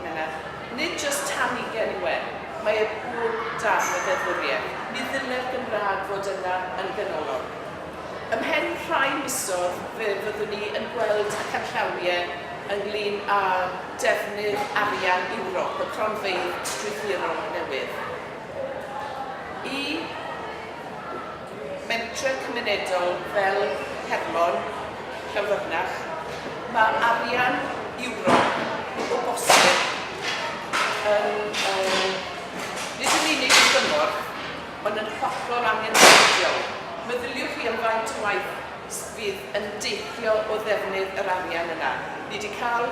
Menna, Nid jyst tan ugain yw e, mae e bob darn o ddeddfwriaeth. Mi ddyle'r Gymraeg fod yna yn ganolog. Ymhen rhai misodd fe fyddwn ni yn gweld y canllawie ynglŷn â defnydd arian Ewrop, y cronfeydd strwythurol newydd. Y. mentrau cymunedol fel Hermon, Llanfyrnach, mae arian Ewrop o bosib yn nid yn unig yn gymorth, ond yn hollol angenrheidiol. Meddyliwch chi am faint o waith fydd yn deillio o ddefnydd yr arian yna. Ni 'di cael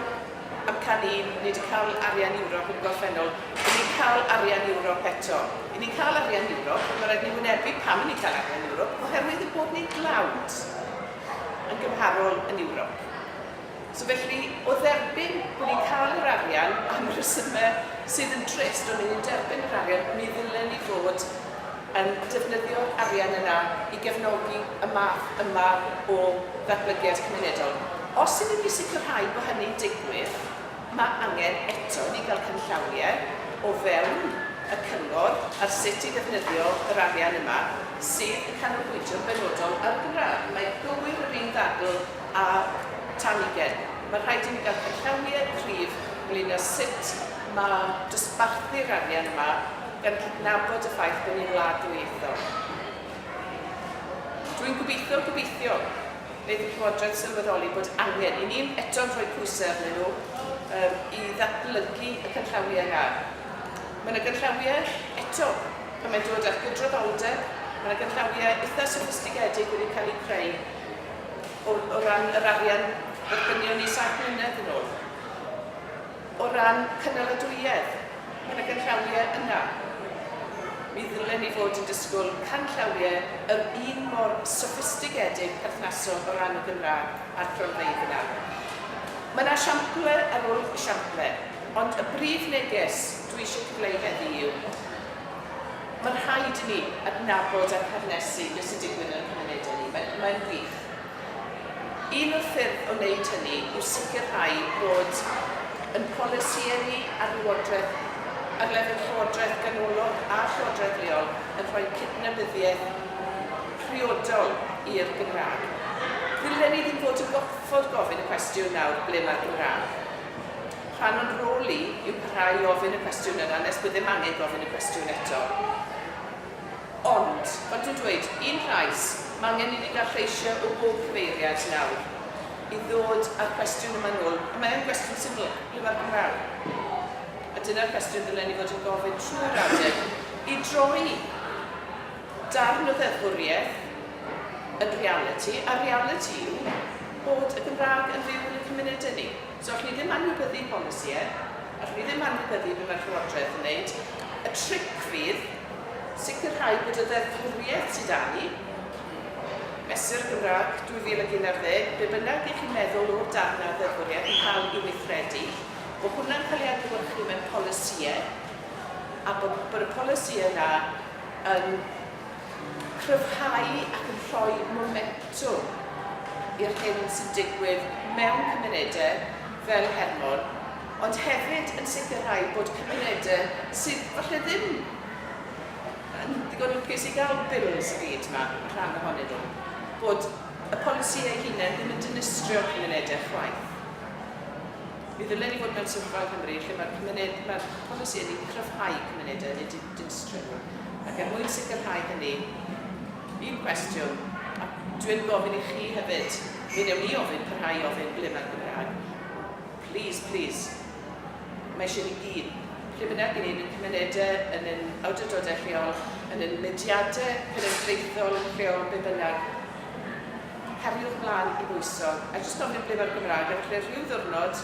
amcan un, ni wedi cael arian Ewrop yn y gorffennol, ry'n ni'n cael arian Ewrop eto. Ry'n ni'n cael arian Ewrop, ond mae'n rhaid i ni wynebu pam ry'n ni'n cael arian Ewrop, oherwydd ein bod ni'n dlawd yn gymharol yn Ewrop. So felly, o dderbyn bod ni'n cael yr arian am y rhesymau sydd yn drist, ond ry'n ni'n derbyn yr arian, mi ddylen ni fod yn defnyddio'r arian yna i gefnogi y math yma o ddatblygiad cymunedol. Os ydym ni sicrhau bod hynny'n digwydd, mae angen eto i ni gael canllawiau o fewn y Cyngor ar sut i ddefnyddio yr arian yma sydd yn canolbwyntio'n benodol ar y Gymraeg. Mae gywir yr un ddadl â tan ugain. Mae rhaid i ni gael canllawiau cryf ynglŷn â sut mae dosbarthu'r arian yma, gan cydnabod y ffaith bod ni'n wlad ddwyieithog. Dwi'n gobeithio, gobeithio, wneith y Llywodraeth sylweddoli bod angen i ni eto'n rhoi pwysau arnyn nhw um, i ddatblygu y canllawiau yna. Mae yna ganllawiau, eto, pan mae'n dod at gydraddoldeb, mae yna ganllawiau eitha' soffistigedig wedi cael eu creu o, o ran yr arian ddynion ni saith mlynedd yn ôl. O ran cynaladwyedd yn y ganllawiau yna, mi ddylen ni fod yn disgwyl canllawiau yr un mor soffistigedig perthnasol o ran y Gymraeg a'r cronfeydd yna. Mae yna siample ar ôl siample, ond y brif neges dwi eisiau cyfleu heddi yw, mae'n rhaid i ni adnabod a perthnasu beth sy'n digwydd yn ein cymunedau ni. Mae'n, mae'n wych. Un o'r ffyrdd o wneud hynny yw sicrhau bod ein polisïau ni ar lywodraeth, ar lefel llywodraeth ganolog a llywodraeth leol, yn rhoi cydnabyddiaeth priodol i'r Gymraeg. Ddylen ni ddim fod yn gorfod gofyn y cwestiwn nawr 'ble mae'r Gymraeg? Rhan o'n rôl ni yw parhau i ofyn y cwestiwn yna nes bod ddim angen gofyn y cwestiwn eto. Ond, maen nhw'n dweud, un llais, mae angen i ni gael lleisiau o bob cyfeiriad nawr i ddod â'r cwestiwn yma nôl, a mae yn gwestiwn syml, ble mae'r Gymraeg? A dyna'r cwestiwn ddylen ni fod yn gofyn trwy'r adeg i droi darn o ddeddfwriaeth yn realiti, a'r realiti yw bod y Gymraeg yn fyw yn ein cymunedau ni. So allwn ni ddim anwybyddu polisïau, allwn ni ddim anwybyddu be mae'r Llywodraeth yn wneud. Y tric fydd sicrhau bod y ddeddfwriaeth sydd 'da ni, Mesur Gymraeg 2011, be bynnag y'ch chi'n meddwl o'r darn 'na o ddeddfwriaeth yn cael ei weithredu, bod hwnna'n cael ei adlewyrchu mewn polisïau, a bod bod y polisïau 'na yn cryfhau ac yn rhoi momentwm i'r hyn sy'n digwydd mewn cymunedau fel Hermon, ond hefyd yn sicrhau bod cymunedau sydd falle ddim yn ddigon lwcus i gael Bills y byd yma, rhan ohonyn nhw, bod y polisi eu hunain ddim yn dinistrio'r cymunedau chwaith. Mi ddylen ni fod mewn sefyllfa yng Nghymru lle mae'r cymuned, mae'r polisi yn ei cryfhau cymunedau, nid yn distribwtio, ac er mwyn sicrhau hynny, un cwestiwn, a dwi yn gofyn i chi hefyd, mi wnewn ni ofyn, parhau i ofyn, ble mae'r Gymraeg? Plîs, plîs, mae eisiau ni gyd, lle bynnag i ni, yn ein cymunedau, yn ein awdurdodau lleol, yn ein mudiadau cenedlaethol yn lleol, be bynnag, heriwr mlaen i bwyso, a jyst gofyn ble mae'r Gymraeg, a falle rhyw ddiwrnod,